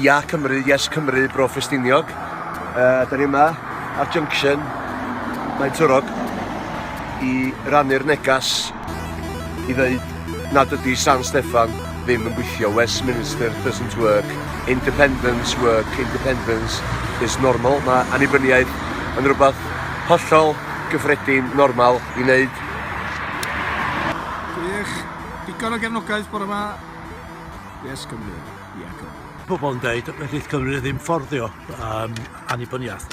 Ia Cymru, Yes Cymru, Bro Ffestiniog. Uh, da ni yma ar Junction, mae'n Twrog, i rannu'r negas i ddeud nad ydy San Steffan ddim yn gweithio. Westminster doesn't work. Independence work. Independence is normal. Mae annibyniaeth yn rhywbeth hollol gyffredin, normal i wneud. Gwych. Digon o gefnogaeth bore yma. Yes, Cymru. Pobl yn dweud, wneith Cymru ddim fforddio um, annibyniaeth.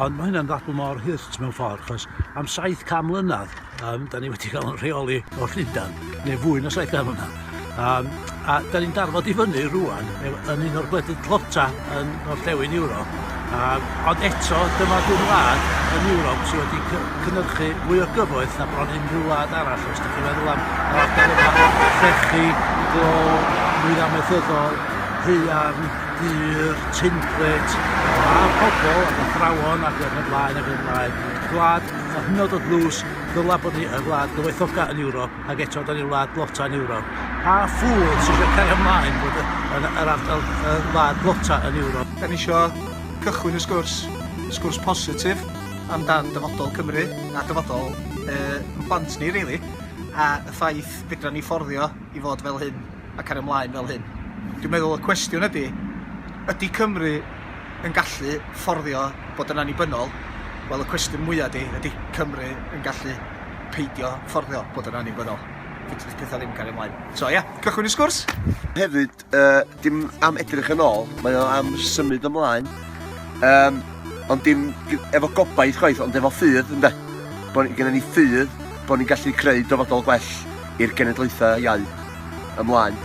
Ond mae hynna'n ddadl mor hurt mewn ffordd, achos am 700 mlynedd, um, da ni wedi cael yn rheoli o Llundain, neu fwy na 700 mlynedd. Um, a da ni'n darfod i fyny rwan, yn un o'r gwledydd tlota yn orllewin Ewrop, Yym, ond eto, dyma dŷn wlad yn Ewrop sydd wedi cy- cynyrchu mwy o gyfoeth na bron unrhyw wlad arall. Os ydych chi'n meddwl am yr ardal yma, llechi, glo, nwydd amaethyddol, haearn, dur, tinplet, a pobl ac athrawon ac yn y blaen ac yn y blaen. Gwlad yn hynod o ddlws, ddyla bod ni y wlad gyfoethoca yn Ewrop. ac eto da ni wlad blota yn Ewrop. Pa ffŵl sy'n eisiau cario ymlaen bod yr, yr ardal y wlad blota yn Ewrop? Da ni eisiau cychwyn y sgwrs, sgwrs positif amdan dyfodol Cymru a dyfodol uh, plant ni, really, a y ffaith fedra ni fforddio i fod fel hyn a cario ymlaen fel hyn. Dwi'n meddwl y cwestiwn ydy, ydy Cymru yn gallu fforddio bod yn annibynnol? Wel, y cwestiwn mwyaf ydy, ydy Cymru yn gallu peidio fforddio bod yn annibynnol. Fedrith pethau ddim cario ymlaen. So ia, yeah, cychwyn y sgwrs! Hefyd, uh, dim am edrych yn ôl, mae o am symud ymlaen. Um, ond dim efo gobaith chwaith, ond efo ffydd, ynddo. Bod gennym ni ffydd bod ni'n gallu creu dyfodol gwell i'r genedlaethau iau ymlaen.